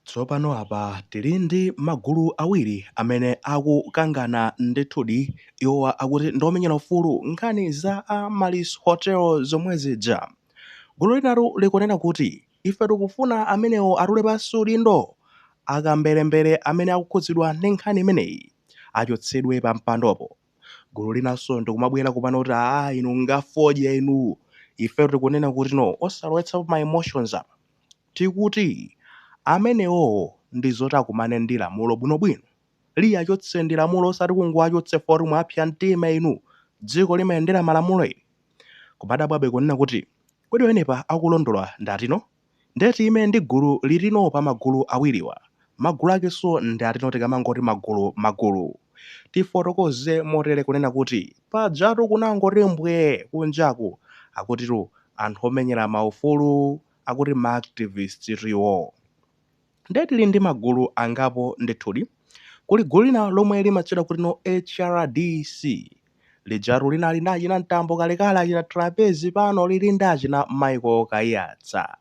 Tsopano apa tili ndi magulu awiri amene akukangana ndithudi. Iwowa akuti ndi omenyera ufulu nkhani za Amaryllis Hotel zomwe zija. Gulu linalu likunena kuti, Ife tikufuna amenewo atule pansi udindo. Akamberembere amene akukhudzidwa ndi nkhani imeneyi achotsedwe pampandopo. gulu linanso ndikumabwera kupano kuti aa inu ndi afodya inu ife tikunena kuti no osalowetsapo ma emotions apa tikuti amenewowo ndi zoti akumane ndi lamulo bwinobwino liyachotse ndi lamulo osati kungowachotsa foti mwapsa mtima inu dziko limayendera malamulo ili kumadabwabe kunena kuti kodi eeni apa akulondola ndatino Nde tiyime ndi gulu litino pa magulu awiriwa? Magulu akenso ndi atino tikamangoti magulu magulu? Tifotokoze motere kunena kuti pajatu kunangoti mbwee kunjaku akutitu anthu omenyera ma ufulu akuti ma activist tu iwoo. Ndiye tili ndi magulu angapo ndithudi. Kuli gulu lina lomwe limatchedwa kuti no hrdc. Lijatu linali ndi achina Mtambo kalekale, achina Trapence, pano lili ndi achina Michael Kaiyatsa.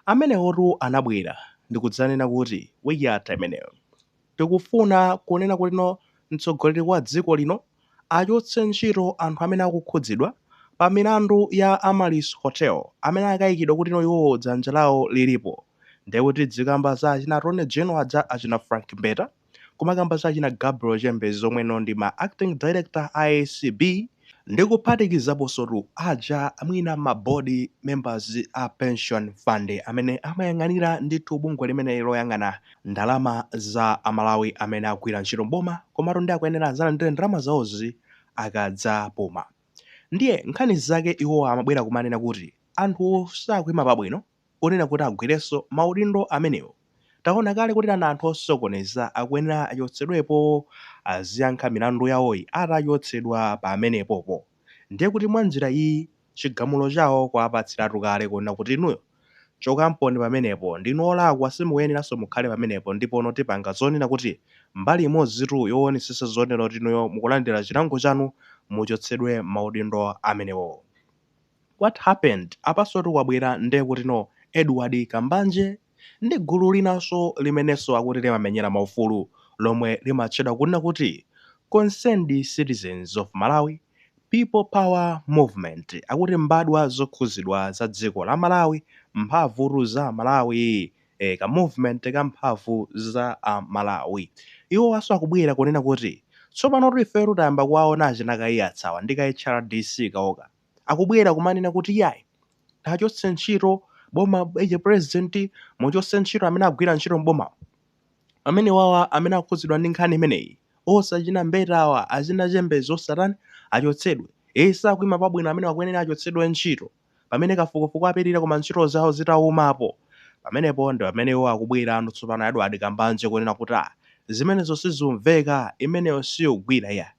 Amenewotu anabwera ndi kudzanena kuti week yatha imeneyo. Tikufuna kunena kuti no mtsogoleri wa dziko lino achotse ntchito anthu amene akukhudzidwa pa milandu ya Amaryllis Hotel amene akukaikidwa kuti no iwowo dzanja lawo lilipo. Ndiye kuti tidzikamba za achina Attorney General aja achina Frank Mbeta, kumakamba za achina Gabriel Chembezi omwe no ndi ma Acting Director a acb, Ndikuphatikizaponsotu aja mwina ma board members a pension fund amene amayang'anira ndithu bungwe limene loyang'ana ndalama za a Malawi amene akugwira ntchito m'boma komatu nde akuyenera adzalandire ndalama zawozi akadzapuma. Ndiye nkhani zake iwowa amabwera kumanena kuti anthuwo sakuima pabwino, kunena kuti agwirenso maudindo amenewo. Taona kale kuti ana anthu osokoneza akuyenera achotsedwepo aziyankha milandu yawoyi atachotsedwa pamenepopo. Ndiye kuti mwa njira iyiyi chigamulo chawo kwawapatsiratu kale kunena kuti inuyo chokamponi pamenepo ndinu olakwa simukuyeneranso mukhale pamenepo ndipono tipanga zonena kuti mbali imodzitu yowonesesa zonena kuti inuyo mukulandira chilango chanu muchotsedwe maudindo amenewowo. What happened? Apasotu kwabwera nde kuti no Edward Kambanje ndi gulu linanso limenenso akuti limamenyera maufulu lomwe limatchedwa kunena kuti Concerned Citizens of Malawi, People Power Movement akuti mbadwa zokhuzidwa za dziko la Malawi, mphamvutu za Amalawi ee ka movement ka mphamvu za a Malawi. Iwowanso akubwera kunena kuti tsopanotu ifetu tayamba kuwaona achina Kaiyatsa awa ndi ka HRDC kawoka. akubwera kumanena kuti iyayi tachotse ntchito boma eti president muchotse ntchito amene agwira ntchito mboma amene wawa amene akhudzidwa ndi nkhani imeneyi onse achina Mbeta awa achina Chembezi osatani achotsedwe sakuima pabwino amene akuyenera achotsedwe ntchito pamene kafukufuku apitirira koma ntchito zawo zitaimapo pamenepo ndi pamene iwo akubwerano tsopano Edward Kambanje kunena kuti ah zimenezo sizikumveka imeneyo siyogwira iyayi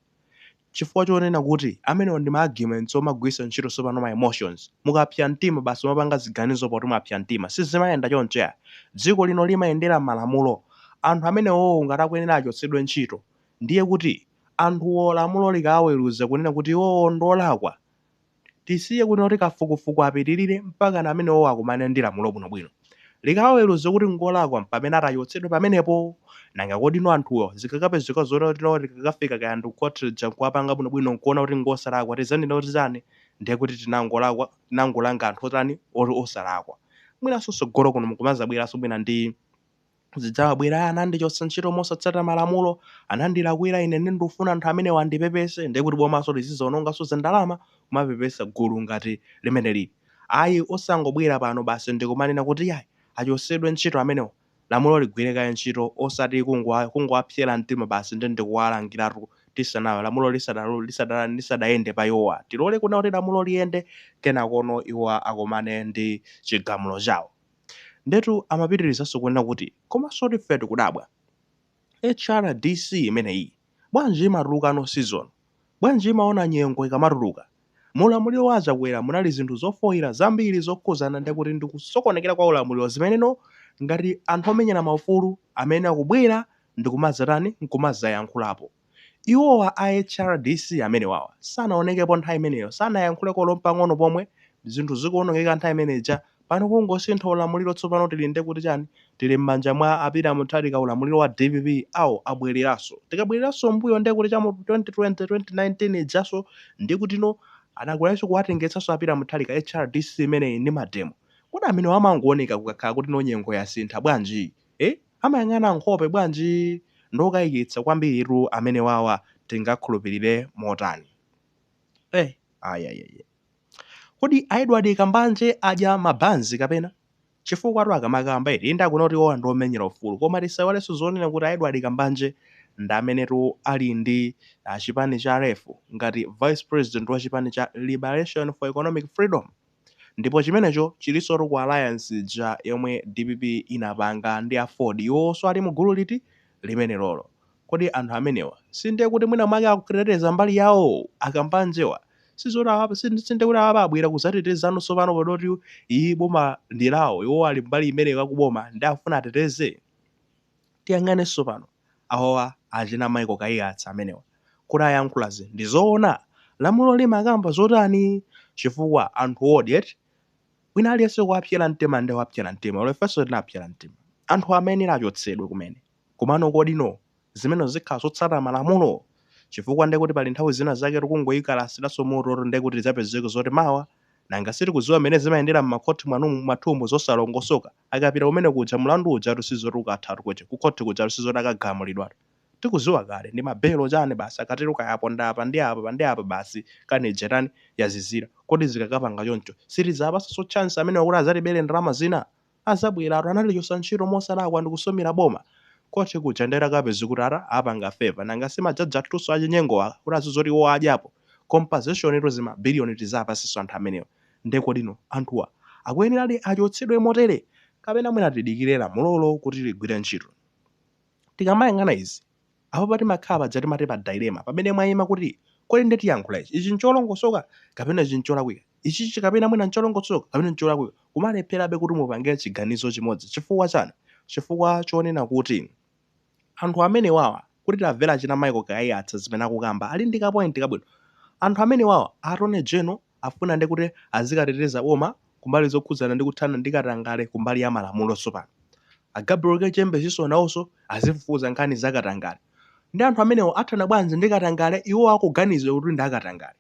Chifukwa chonena kuti amenewo ndi ma arguments omagwiritsa ntchito sopano ma emotions. Mukapsya mtima basi mwapanga ziganizo poti mwapsya mtima. Sizimayenda choncho iyayi. Dziko lino limayendera malamulo. Anthu amenewowo ngati akuyenera achotsedwe ntchito, ndiye kuti anthuwo lamulo likawaweruza kunena kuti iwowo ndi olakwa, Tisiye kunena kuti kafukufuku apitirire mpakana amenewowo akumane ndi lamulo bwinobwino. Likawaweruza kuti n'ngolakwa m'pamene atachotsedwe pamenepo. Nanga kodino anthuwo zikakapezeka zonena kuti no likakafika kaya ndi kukhoti lija n'kuwapanga bwinobwino n'kuona kuti n'ngosalakwa tidzanena kuti chani? Ndiye kuti tinangolakwa, tinangolanga anthu otani, oti osalakwa. Mwinanso tsogolo kuno mukumadzabweranso mwina ndi. zidzawabwera anandichotsa ntchito mosatsata malamulo, anandilakwira ine nde ndufuna anthu amenewa andipepese nde kuti bomaso lizizaonongaso za ndalama kumapepesa gulu ngati limeneli ayi osangobwera pano basi ndikumanena kuti yayi achosedwe ntchito amenewa lamulo ligwire kaye ntchito osati kungo kungowapsera mtima basi nde ndikuwalangiratu tisana lamulo lisada lisada lisadayende pa iwowa tilole kunena kuti lamulo liyende kenakono iwowa akomane ndi chigamulo chawo. Ndiyetu amapitirizanso kunena kuti, Komansotu ife tikudabwa. HRDC imeneyi, bwanji imatuluka no season? Bwanji imaona nyengo ikamatuluka? Mu ulamuliro wa a Chakwera munali zinthu zofoira zambiri zokhudzana ndi akuti ndi kusokonekera kwa ulamuliro zimeneno ngati anthu omenyera maufulu amayenera kubwera ndi kumadzatani, nkumadzayankhulapo. Iwowa a HRDC amenewawa sanaonekepo nthawi imeneyo, sanayankhuleko olo mpang'ono pomwe, zinthu zikuonongeka nthawi imene ija, pano kungosintha ulamuliro tsopano tili nde kuti chani, tili mmanja mwa a Peter Mutharika ulamuliro wa DPP awa abweleranso, tikabweleranso mmbuyo nde kuti cha mu 2020, 2019 ijanso nde kuti no, anakwanitsa kuwatengetsanso a Peter Mutharika HRDC imeneyi ndi mademo, kodi amenewa amangooneka kukakhala kuti no nyengo yasintha bwanji? Eeh amayang'ana nkhope bwanji? Ngokayikitsa kwambiritu amenewawa tingakhulupilire motani? Eeh ayayaya. Kodi a Edward Kambanje adya ma banzi kapena? Chifukwatu akamakamba eti inde akunena kuti iwowa ndi omenyera ufulu koma tisaiwalenso zonena kuti a Edward Kambanje ndi amenetu ali ndi chipani cha LEF ngati vice president wa chipani cha Liberation for Economic Freedom. Ndipo chimenecho chilinsotu ku alliance ija yomwe dpp inapanga ndi aford iwowoso ali mugulu liti? Limenelolo. Kodi anthu amenewa si ndiye kuti mwina mwake akuteteza mbali yawo? A Kambanjewa sizoti awa si si ndiye kuti awa abwera kuzatetezano sopano podoti iyi boma ndi lawo iwowo ali mbali imeneyo akuboma nde afuna ateteze? Tiyang'ane sopano, awawa achina Michael Kaiyatsa amenewa kuti ayankhulazi ndi zoona? Lamulo limakamba zotani? Chifukwa anthuwodi eti, wina aliyense kuwapsera mtima nde wapsera mtima, olo ifenso tinapsera mtima. Anthuwa amayenera achotsedwe kumene. Komano kodino zimenezo zikhala zotsata malamulo? Chifukwa ndekuti pali nthawi zina zaketu kungoikalasiraso mototu ndekuti tidzapezeke zoti mawa, nanga sitikudziwa mmene zimayendera mmakhoti mwanumu, mwathumu zosalongosoka. Akapita kumene kuja mulandu ujatu sizoti ukathatu kuti ku khothi kujatu sizoti akagamulidwatu. Tikuziwa kale ndi ma belo chani basi akatero kaya aponda apa ndi apa ndi apa basi nkhani ija yatani yazizira. Kodi zikakapanga choncho sitidzawapasanso chance amenewa kuti azatibele ndalama zina? Azabwelatu anatichosa ntchito mosalakwa ndikusumila boma khothi kuja nde takapeza kuti apanga favour nanga si ma judge athuso achinyengowa kuti azizoti iwo adyapo compensation tu zima billion tizawapasenso anthu amenewa. Nde kodino anthuwa akuyeneradi achotsedwe motere? Kapena mwina tidikire lamulolo kuti ligwire ntchito? Tikamayang'ana izi, apapa timakhala paja timati pa dilemma pamene mwaima kuti kodi nde tiyankhula ichi? Ichi ncholongosoka kapena ichi ncholakwika? Ichichi kapena mwina ncholongosoka kapena ncholakwika? Kumalepherabe kuti mupange chiganizo chimodzi. Chifukwa chani? Chifukwa chonena kuti. Anthu amenewawa kuti tavela achina Michael Kaiyatsa zimene akukamba ali ndi ka point kabwino. Anthu amenewawa a Attorney General afuna nde kuti azikateteza boma kumbali zokhudzana ndi kuthana ndi katangale kumbali ya malamulo sopano. A Gabriel Chembezinso nawonso azifufuza nkhani za katangale. Nde anthu amenewa athana bwanji ndi katangale iwowo akuganizidwa kuti ndi akatangale?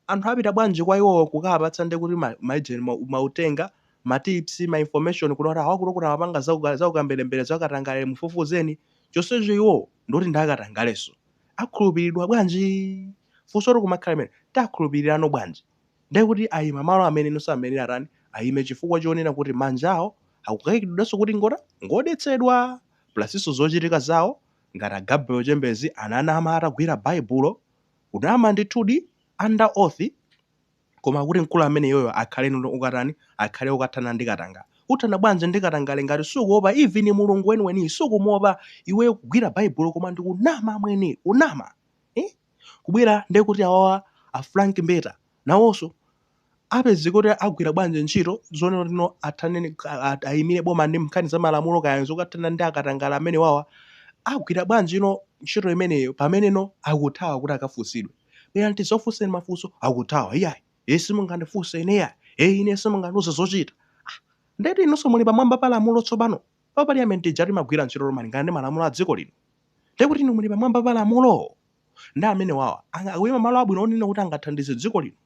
anthu apita bwanji kwa iwowo kukawapatsa nde kuti ma, ma agent ma, mautenga ma tips ma information kuno kuti awakuno kuti amapanga zauka- zaukamberembere zakatangale mufufuzeni chonsecho iwowo ndikuti ndi akatangaleso akhulupilidwa bwanji funso likumakhala limene tiakhulupilirano bwanji nde kuti ayima malo ameneno samayenera atani ayime chifukwa chonena kuti manja awo akukaikidwiranso kuti ngotani ngodetsedwa plasinso zochitika zawo ngati a Gabriel chembezi ananama atagwira baibulo Kunama ndithudi under oath koma kuti mkulu ameneyoyo akhale okatani akhale okathana ndi katangale uthana bwanji ndi katangale ngati sukuopa even mulungu weniweni sukumuopa iweyo kugwira baibulo koma ndikunama amwene kunama ee kubwera ndekuti awawa a frank mbeta nawonso apezeke kuti agwira bwanji ntchito zonena kuti no athane ndi ka- a- ayimire boma ndi nkhani za malamulo kaya zothana ndi akatangale amene wawa agwira bwanji no ntchito imeneyo pamene no akuthawa kuti akafunsidwe bwera tizakufunseni mafunso akuthawa iyayi iye simungandifunse ine iyayi iye ine simungandiuze zochita ndeti inunso muli pamwamba pa lamulo tsopano pa parliament ija timagwira ntchito malingana ndi malamulo a dziko lino ndekuti inu muli pamwamba pa lamulo ndi amene wawa Anga- akuyima malo abwino onena kuti angathandize dziko lino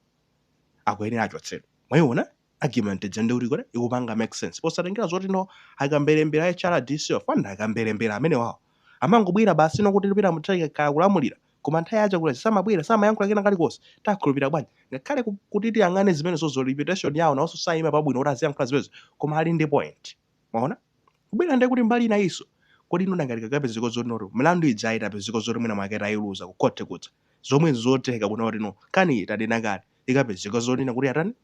akuyenera achotsedwe mwayiona argument ija ndi kuti kuti ikupanga make sense posatengera zoti no akamberembere a HRDC ofanda akamberembere amene wawa amangobwera basi nokuti Peter Mutharika akayamba kulamulira koma nthawi ya Chakwera samabwera samayankhula kena kalikonse tiwakhulupirira bwanji ngakhale ku- kuti tiyang'ane zimenezo za reputation yawo nawonso sayima pabwino kuti aziyankhula zimenezo koma ali ndi point mwaona kubwera ndiye kuti mbali inayinso kodi inu nanga zikakapezeka zoti noto milandu ija itapezeka zoti mwina mwake tayiluza ku court kudza zomwe nzotheka kuna kuti no kani itanena kale ikapezeka zonena kuti atani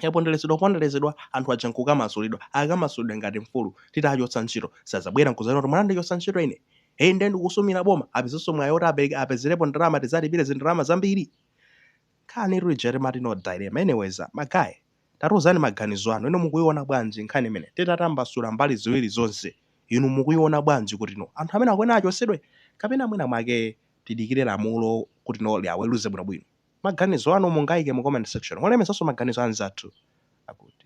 yaponderezedwa kuponderezedwa anthu aja nkukamasulidwa akamasulidwa ngati mfulu titachotsa ntchito sazabwera nkuzanena kuti munandichotsa ntchito ine eyi ndiye ndikusumira boma apezenso mwayi oti apereke apezerepo ndalama tizawalipire zindalama zambiri kani rijere mati no dilemma anyways magaye Tatiuzani maganizo anu. Inu mukuiona bwanji nkhani imeneyi? Titatambasula mbali ziwiri zonse, inu mukuiona bwanji kutino anthu amenewa akuyenera achotsedwe kapena mwina mwake tidikire lamulo kutino liaweruze bwinobwino? Maganizo anu mungaike mu comment section molemekezanso maganizo a anzathu akuti.